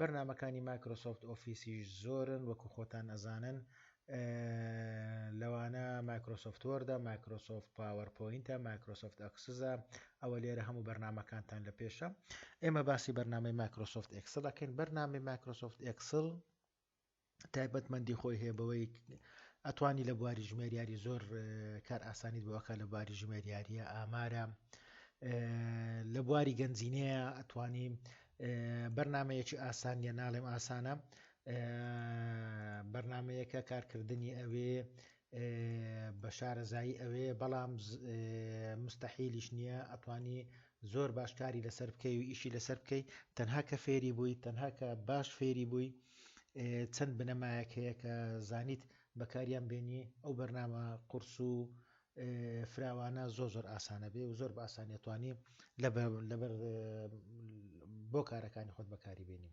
بەرنامەکانی مایکرۆسۆفت ئۆفیسیش زۆرن وەکو خۆتان ئەزانن لەوانە مایکرۆسۆفت وۆردە مایکرۆسۆفت پاوەر پۆینتە مایکرۆسۆفت ئەکسزە ئەوە لێرە هەموو بەرنمەکانتان لە پێشە ئێمە باسی بەرنامەی مایکرۆسۆفت ئەکسلەکەین بەرنامی مایکرۆسۆفت ئەکسل تایبەتمەندی خۆی هەیە بەوەی ئەتوانی لە بواری ژمێریاری زۆر کار ئاسانیت بۆکە لە باری ژمێریاریە ئامارە لە بواری گەنجینەیە ئەتوانی بەرنمەیەکی ئاسانیە ناڵێم ئاسانە بەرنمەیەکە کارکردنی ئەوێ بە شارەزایی ئەوێ بەڵام مستەحیلیش نییە ئەتوانی زۆر باش کاری لەسەر بکەی و ئیشی لەسەر بکەی تەنها کە فێری بووی تەنها کە باش فێری بووی چەند بنەمایەک هەیە کە زانیت بەکاریان بێنی ئەو بەرنامە قرس و فراوانە زۆ زۆر ئاسانە بێ و زۆر بە ئاسانیتوانی لەبەر بۆ کارەکانی خۆت بەکاری بێنی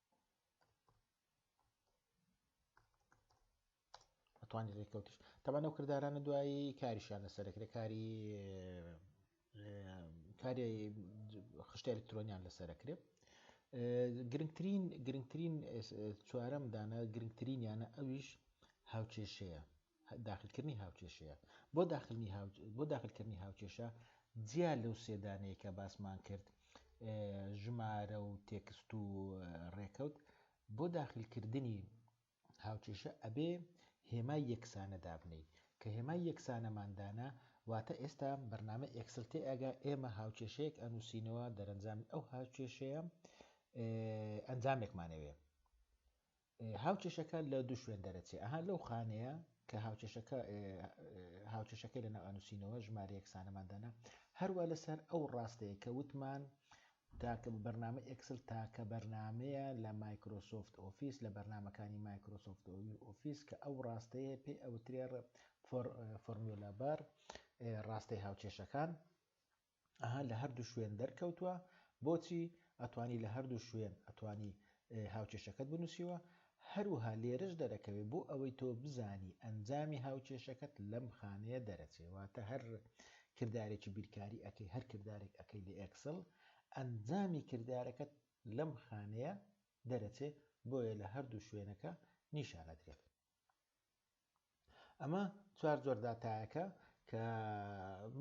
توانی ڕێککەوتش تەبان ئەو کردارانە دوایی کاریشیان لەسەر دەکرێت کاری کاری خشتە ئەلکترۆنیان لەسەرکرێت گرنگترین گرنگترین چوارەم دانە گرنگترین یانە ئەویش هاوچێشەیە داخلکردنی هاوکێشەیە. بۆ داخلنی هاو بۆ داخلکردنی هاوکێشە جیا لەو سێ دانەیە کە باسمان کرد ژمارە و تێکست و ڕێکەوت بۆ داخلکردنی هاوکێشە ئەبێ هێمای یەکسانە دابنەی کە هێمای یەکسانەماندانا واتە ئێستا بەرنامە ئێکسل تێ ئەگا ئێمە هاوکێشەیەک ئەنووسینەوە دەرەنجامی ئەو هاوکێشەیە ئەنجامێکمانەوێ هاوکێشەکە لە دوو شوێن دەرەچێ ئەها لەو خانەیە کە هاوکێشەکە هاوکێشەکەی لە ناوانووسینەوە ژمارە یەکسانەماندانە هەروە لەسەر ئەو ڕاستەیە کە وتمان تاکە بەرنامە ئەکسل تاکە بەرنمەیە لە مایکرۆسۆفت ئۆفیس لە بەرنمەکانی مایکرۆسۆفت ئۆفیس کە ئەو ڕاستەیە پێی ئەوترێ فۆرمیۆلابار ڕاستەی هاوکێشەکان ئەها لە هەردوو شوێن دەرکەوتوە بۆچی ئەتوانی لە هەردوو شوێن ئەتوانی هاوکێشەکەت بنوسیوە هەروها لێرەش دەرەکەوێ بۆ ئەوەی تۆ بزانی ئەنجامی هاوکێشەکەت لەم خانەیە دەرەچێ واتە هەر کردارێکی بیرکاری ئەەکەی هەر کردارێک ئەەکەی لە ئەکسڵ ئەنجامی کردارەکەت لەم خانەیە دەرەچێ بۆیە لە هەردوو شوێنەکە نیشانەدرێت ئەمە چوار جۆر داتایەکە کە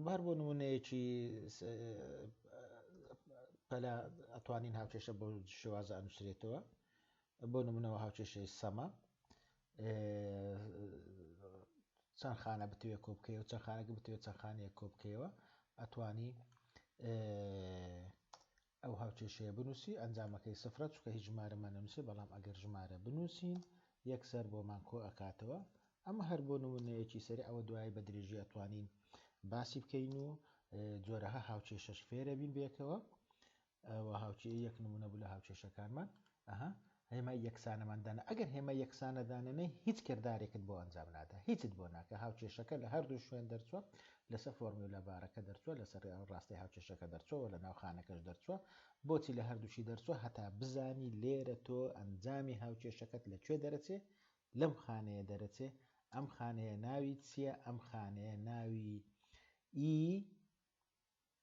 بار بۆ نمونەیەکی پەلا ئەتوانین هاوکێشە بۆ شێوازە ئەنووسرێتەوە بۆ نمونەوە هاوکێشەی سەمە چەند خانە بتوێ کۆبکەوە چەند خانەکە بتوێت چەند خانەیە کۆبکەوە ئەتوانی ئەو هاوکێشەیە بنووسی ئەنجامەکەی سفرە چونکە هیچ ژمارەمان نەنووسێ بەڵام ئەگەر ژمارە بنووسین یەکسەر بۆمان کۆ ئەکاتەوە ئەمە هەر بۆ نموونەیەکی سەرێ ئەوە دوایی بە درێژی ئەتوانین باسی بکەین و جۆرەها هاوکێشەش فێرەبین بێکەوە ئەوە هاوکێ یەک نمونە بوو لە هاوکێشەکانمان ئەها هێمای یەکسانەمان دانا ئەگەر هێمای یەکسانە دانەنێی هیچ کردارێکت بۆ ئەنجام نادا هیچت بۆ ناکا هاوکێشەکە لە هەردوو شوێن دەرچووە لەسەر فۆرمیولا بارەکە دەرچووە لەسەر ڕاستەی هاوکێشەکە دەرچووە وە لە ناو خانەکەش دەرچووە بۆچی لە هەردووشی دەرچووە هەتا بزانی لێرە تۆ ئەنجامی هاوکێشەکەت لە کوێ دەرەچێ لەم خانەیە دەرەچێ ئەم خانەیە ناوی چییە ئەم خانەیە ناوی ئی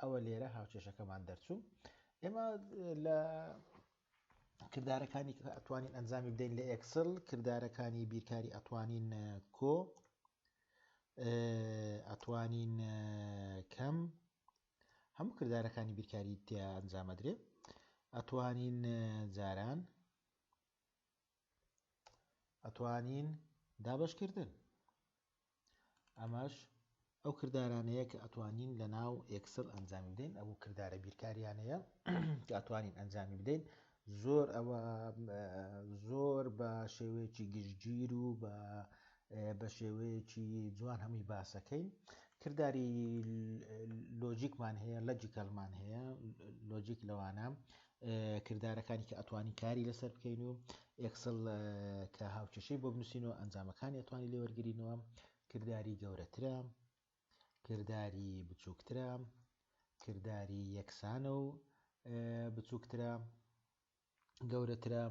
ئەوە لێرە هاوکێشەکەمان دەرچوو ئێمە لە کردارەکانی ئەتوانین ئەنجامی بدەین لە ئەکسل کردارەکانی بیرکاری ئەتوانین کۆ ئەتوانین کەم هەموو کردارەکانی بیرکاری تیا ئەنجامەدرێ ئەتوانین جاران ئەتوانین دابەش کردن ئەمەش ئەو کردارانەیە کە ئەتوانین لە ناو ئێکسل ئەنجامی بدەین ئەو کردارە بیرکاریانەیە کە ئەتوانین ئەنجامی بدەین زۆر ئەوە زۆر بە شێوەیەکی گشتگیر و بە بە شێوەیەکی جوان هەمووی باسەکەین کردداری لۆجیکمان هەیە لەجیکەلمان هەیە لۆجیک لەوانە کردارەکانی کە ئەتوانین کاری لەسەر بکەین و ئێکسڵ کە هاوکێشەی بۆ بنووسین و ئەنجامەکانی ئەتوانی لێوەرگرینەوە کردداری گەورەترە کردداری بچووکترە کردداری یەکسانە و بچووکترە گەورەترە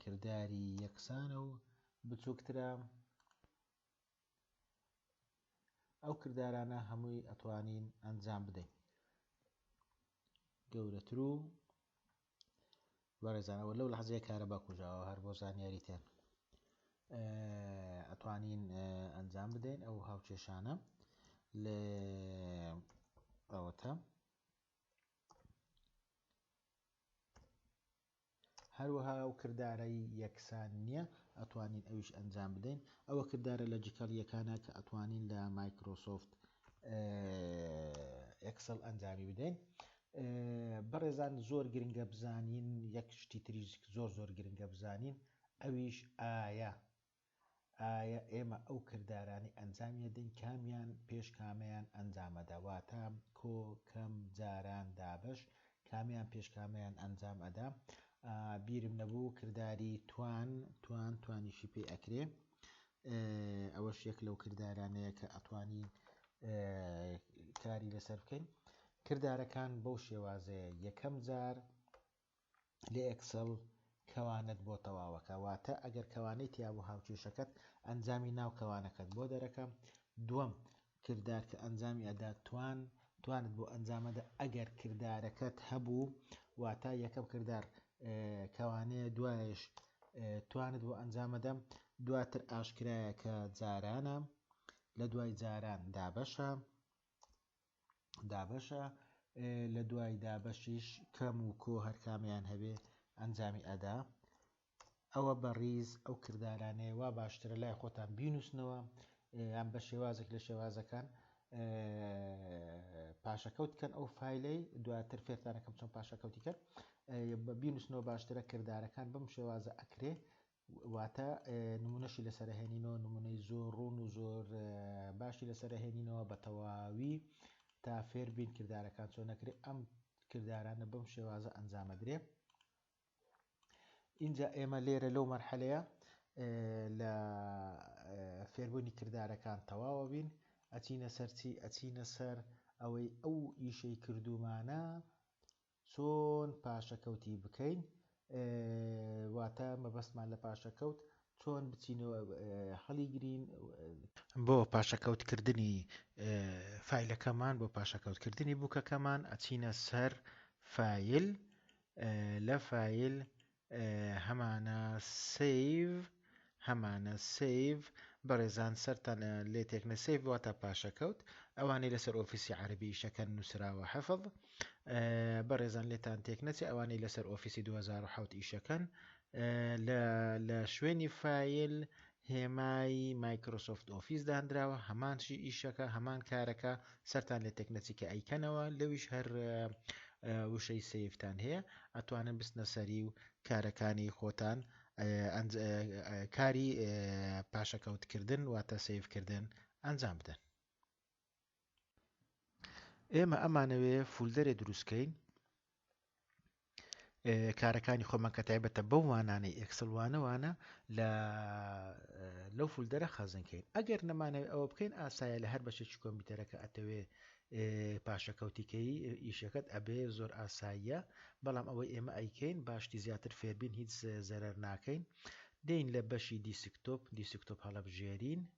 کردداری یەکسانە و بچووکترە ئەو کردارانە هەمووی ئەتوانین ئەنجام بدەین گەورەترو بەڕێزانەوە لەو لەحزەیە کارەبا کوژاوە هەر بۆ زانیاریتێن ئەتوانین ئەنجام بدەین ئەو هاوکێشانە لە ئەوەتە هەروەها ئەو کردارەی یەکسان نیە ئەتوانین ئەویش ئەنجام بدەین ئەوە کردارە لەجکەڵ یەکانە کە ئەتوانین لە مایکرۆسۆفت ئێکسڵ ئەنجامی بدەین بەڕێزان زۆر گرنگە بزانین یەک شتی تریش زۆر زۆر گرنگە بزانین ئەویش ئایا ئایا ئێمە ئەو کردارانەی ئەنجامی ئەدەین کامیان پێش کامەیان ئەنجامەدا واتە، کۆ، کەم، جاران، دابەش، کامیان پێش کامەیان ئەنجام ئەدا بیرم نەبوو کرداری توان توان توانیشی پێ ئەکرێ ئەوەش یەک لەو کردارانەیە کە ئەتوانین کاری لەسەر بکەین کردارەکان بەو شێوازەیە یەکەم جار لە ئێکسڵ کەوانەت بۆ تەواوەکە واتە ئەگەر کەوانەی تیابوو هاوکێشەکەت ئەنجامی ناو کەوانەکەت بۆ دەرەکە دووەم کردار کە ئەنجامی ئەدا توان توانت بۆ ئەنجامەدە ئەگەر کردارەکەت هەبوو واتا یەکەم کردار کەوانەیە دوایش توانت بۆ ئەنجامەدەم دواتر ئاشکرایە کە جارانە لە دوای جاران دابەشە دابەشە لە دوای دابەشیش کەم و کۆ هەرکامیان هەبێ ئەنجامی ئەدا ئەوە بە ڕیز ئەو کردارانەیە وا باشترە لای خۆتان بینووسنەوە یان بە شێوازێک لە شێوازەکان پاشەکەوت کەن ئەو فیلەی دواتر فێرتانەکەم چۆن پاشەکەوتی کرد بە بینوسنەوە باشترە کردارەکان بم شێوازە ئەکرێ واتە نمونەشی لەسەر ئەهێنینەوە، نمونەی زۆر ڕوون و زۆر باشی لەسەر ئەهێنینەوە بە تەواوی تا فێر بین کردارەکان چۆن ئەکرێ ئەم کردارانە بەم شێوازە ئەنجام ئەدرێ. ئینجا ئێمە لێرە لەو مەرحەلەیە لە فێربوونی کردارەکان تەواوە بین ئەچینە سەرچی ئەچینە سەر ئەوەی ئەو ئیشەی کردومانە چۆن پاشەکەوتی بکەین واتە مەبەستمان لە پاشەکەوت چۆن بچین و هەڵیگرین. بۆ پاشەکەوت کردنی فایلەکەمان بۆ پاشەکەوت کردنی بوکەکەمان ئەچینە سەر فایل لە فایل هەمانە سەیڤ هەمانە سەیڤ بەڕێزان سەرتان لێ تێکنە سەیڤ واتا پاشەکەوت ئەوانەی لەسەر ئۆفیسی عربی ئیشەکەن نووسراوە حەفڵ بەڕێزان لێتان تێک نەچێ ئەوانەی لەسەر ئۆفیسی 2010 ئیشەکەن لە شوێنی فیل هێمای مایکرۆسۆفت ئۆفیس داندراوە هەمان شی ئیشەکە هەمان کارەکە سەرتان لێ تێکنەچی کە ئەیکەنەوە لەویش هەر وشەی سیفتان هەیە ئەتوانن بستنە سەری و کارەکانی خۆتان کاری پاشەکەوتکردن واتە سیفکردن ئەنجام بدەن ئێمە ئەمانەوێ فولدەرێ دروستکەین کارەکانی خۆمان کە تایبەتە بەو وانانەی ئەکسلوانەوانە لە لەو فولدەرە خەزنکەین ئەگەر نەمانەوە ئەوە بکەین ئاسایە لە هەر بەشێکی کۆمپیوتەرەکە ئەتەوێ پاشەکەوتیکەی ئیشەکەت ئەبێ زۆر ئاساییە بەڵام ئەوەی ئێمە ئەیکەین باشتی زیاتر فێربین هیچ زەرەر ناکەین دین لە بەشی دیسکتۆپ دیسکتۆپ هەڵبژێرین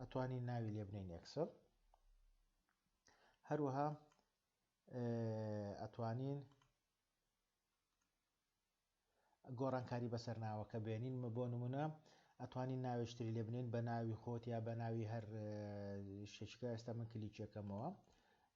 ئەتوانی ناوی لێ بنین ئەکسل هەروەها ئەتوانین گۆڕانکاری بەسەر ناوەکە بێنین بۆ نمونە ئەتوانین ناوێشتری لێ بنین بە ناوی خۆت یا بە ناوی هەر شتێکە ئێستا من کلیچەکەمەوە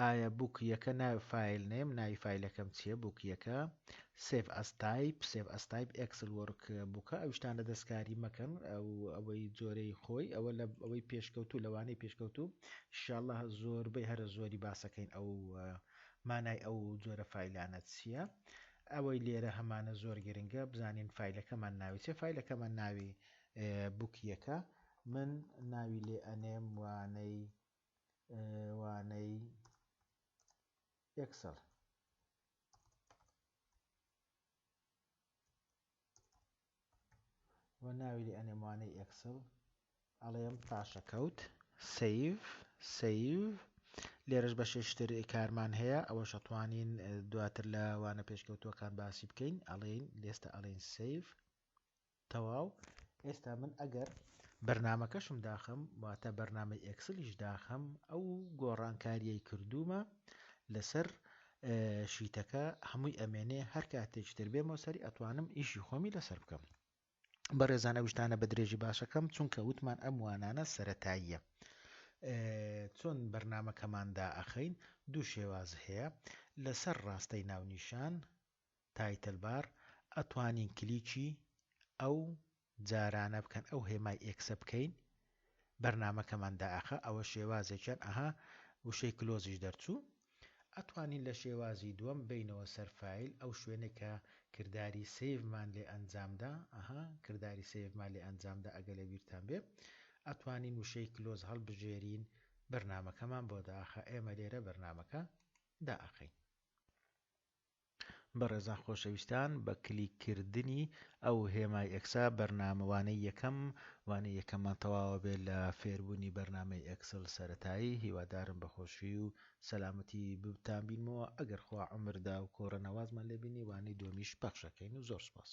ئایا بوک یەکە ناوی فایل نەیم ناوی فایلەکەم چیە بوک یەکە سێڤ ئەس تایپ سێڤ ئەس تایپ ئێکسل وۆرک بوکە ئەو شتانە دەستکاری مەکەن ئەو ئەوەی جۆرەی خۆی ئەوە لە ئەوەی پێشکەوتوو لەوانەی پێشکەوتوو شاءاللە زۆربەی هەرە زۆری باسەکەین ئەو مانای ئەو جۆرە فایلانە چییە ئەوەی لێرە هەمانە زۆر گرنگە بزانین فیلەکەمان ناوی چێ فیلەکەمان ناوی بوکیەکە من ناوی لێ ئەنێم وانەی وانەی ئێکسڵ. و ناوی لێ ئەنێم وانەی ئێکسڵ ئەڵێم پاشەکەوت سیڤ سیڤ لێرەش بەشێش تر کارمان هەیە ئەوە شەتوانین دواتر لە وانە پێشکەوتوەکان باسی بکەین ئەڵێین لێستە ئەڵێن سیڤ تەواو ئێستا من ئەگەر بەرنامەکەشم داخەم واتە بەرنامەی ئێکسلیش داخەم ئەو گۆڕانکاریەی کردوومە لەسەر شیتەکە هەمووی ئەمێنێ هەر کاتێک تر بێمەوە سەری ئەتوانم ئیشی خۆمی لەسەر بکەم بەڕێزانە وشتانە بە درێژی باسەکەم چونکە وتمان ئەم وانانە سەتاییە چۆن بەرنمەکەماندا ئەخەین دوو شێواز هەیە لەسەر ڕاستەی ناونیشان تایتل بار ئەتوانین کلیکی ئەو جارانە بکەن ئەو هێمای ئێکسە بکەین بەرنامەکەمان دائەخا ئەوە شێوازێکیان ئەها وشەی کلۆزیش دەرچوو ئەتوانین لە شێوازی دووەم بینەوە سەر فایل ئەو شوێنێک کە کرداری سەیڤمان لێ ئەنجامدا ئەها کرداری سەیڤمان لێ ئەنجامدا ئەگە لە بیرتان بێ ئەتوانین وشەی کلۆز هەڵبژێرین بەرنامەکەمان بۆ داخە ئێمە لێرە بەرنامەکە دائەخەین بەڕێزان خۆشەویستان بە کلیک کردنی ئەو هێمای ئێکسە بەرنامە وانەی یەکەم وانەی یەکەممان تەواوە بێت لە فێربوونی بەرنامەی ئێکسڵ سەرەتایی هیوادارم بە خۆشی و سەلامەتی بتان بینمەوە ئەگەر خوا عەمر دا و کۆرە نەوازمان لێ بینی وانەی دووەمیش پەخشەکەین و زۆر سپاس.